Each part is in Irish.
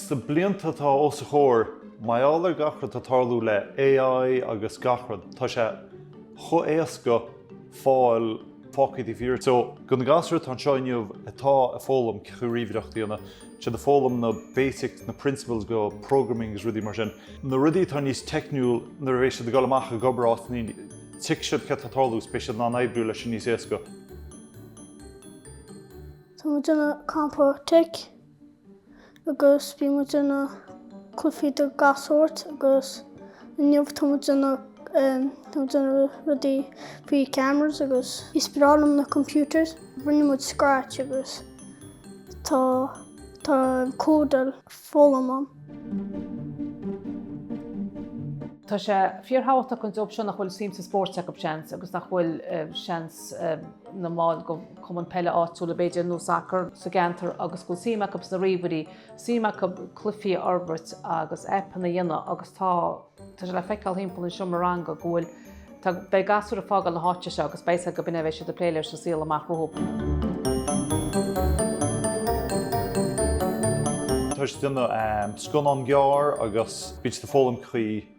Sna blianta atá os a chomhair, mar gheall ar gach rud atá tarlú le AI agus gach rud, tá sé chomh éasca fáil fágtha taobh thiar. So, do na gasúir atá anseo inniu atá ag foghlaim cén chaoi ríomhaireacht a dhéanamh, tá siad ag foghlaim na basics, na principles do programming agus rudaí mar sin, na rudaí atá níos teicniúla nuair a bheidh siad ag dul amach ag obair áit eicínt, tuigfidh siad céard atá ag tarlú agus beidh siad in ann oibriú leis sin níos éasca. Tá muid ag déanamh campa tech agus bíonn muid ag déanamh cluichí de gach sórt agus inniu tá muid ag déanamh em tá muid ag déanamh rudaí faoi cameras agus is breá liom na computers rinne muid scratch agus tá tá go leor foghlaim ann. Tá sé fíorthábhachtach an grúpa seo nach bhfuil suim sa spórt acu seans agus nach bhfuil seans ina mball de cumann peile áitiúla, b'fhéidir, nó sacar sa gceantar agus go bhfuil suim acu sna ríomhairí, suim acu cluichí a fhorbairt agus aipeanna a dhéanamh agus tá tá sé le feiceáil thimpeall an tseomra ranga go bhfuil tá beidh gasúir ag fágáil na háite seo agus beidh go cinnte beidh siad ag plé leis sa saol amach rompu. Tá siad ag déanamh scannán gearr agus bíonn siad ag foghlaim faoi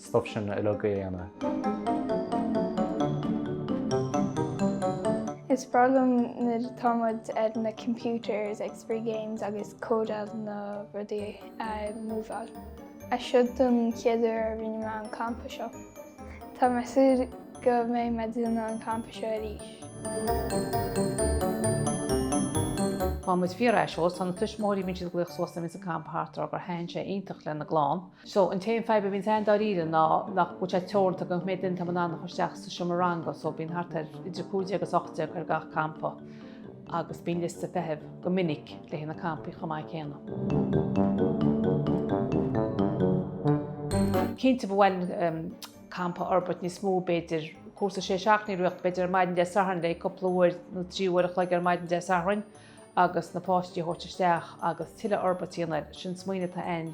stuif sin uilig a dhéanamh. Is breá liom nuair atá muid ar na computers ag spraoi games agus códáil le rudaí a múmháil. Is é seo an chéad uair a rinne mé an campa seo. Tá mé ag súil go mbeidh mé ag déanamh an campa seo arís. Má tá muid ag fáil aiseolas, ó na tuismitheoirí, bíonn siad ag glaoch suas nuair a bhíonns an campa thart ag rá gur thaitin sé iontach lena gclann. So, an t-aon fadhb a bhíonns ann dáiríre ná go bhfuil muid teoranta go cé mhéad duine atá muid in ann a chur isteach sa seomra ranga, so bíonn thart ar idir cúig déag is ocht déag ar gach campa agus bíonn liosta feithimh go minic le haghaidh na campaí chomh maith céanna. Cinnte ba mhaith linn an campa a fhorbairt níos mó, b'fhéidir cúrsa sé seachtaine a reáchtáil, b'fhéidir ar maidin Dé Sathairn le cúpla uair nó trí uair a chloig ar maidin Dé Sathairn agus na páistí a thabhairt isteach agus tuilleadh forbairt a dhéanamh air, sin smaoineamh atá ann.